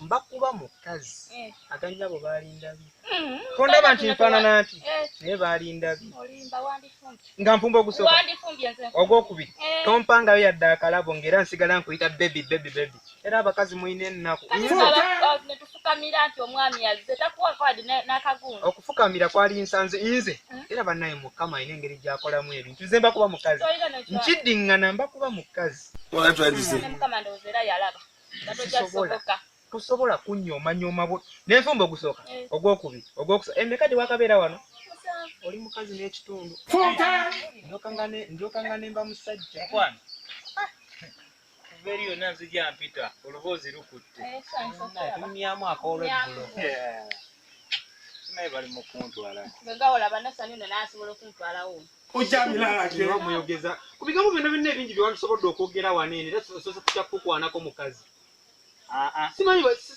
mbakuba mukazi eh. aganyabo balindabi mm, tondaba nti nfanana nti eh. naye balindabi nga nfumba ogusoka ogwokubiri eh. tompangayo yadde akalabo ngaera nsigala nkuyita bebi bebi bebi era abakazi mulina ennaku okufukamira kwali nsanze nze hmm? era banaye mukama alina engeri gyakolamu ebintu nze mbakuba mukazi nkiddingana mbakuba mukazi tosobola kunyomanyooma bu nenfumba ogusooka eh. ogwokubiri ogwokusa emeka eh, gyewakabeera wano oli mukazi n'ekitundu njoka nga nemba musajja eri yonna nzija mpita oluboozi lukutte eh, tumyamu akoolweggulo naye bali mukuntwala nga olaba nasanyuno nasobola okuntwalawo ojamiraamuyogeza ku bigambo byonna byonna ebingi byewandisobodde okwogera wano ene era sosa tutya kukukwanako mukazi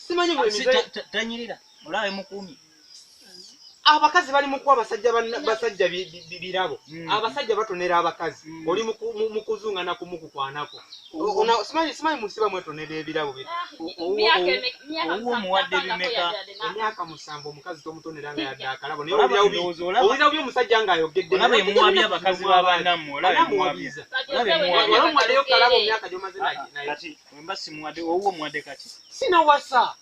simanyi bwetanyirira olaba emukuumi abakazi bali mukuwa basajja basajja birabo hmm. abasajja batonera abakazi hmm. oli mukuzungana kumukukwanako simanyi simanyi musiba mwetonera ebirabo owomuwadde bimeka emyaka musanvu omukazi tomutonera nga yadde akalabo nayeowulira byo omusajja nga ayogeddeomuwabya abakazi babanamuwalamuwaddeyo kalabo myaka gyomaze naye wemba simuwadde owomuwadde kati sinawasa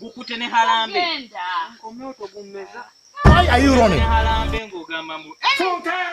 gukute ne halambe ng'ogamba mbu eh!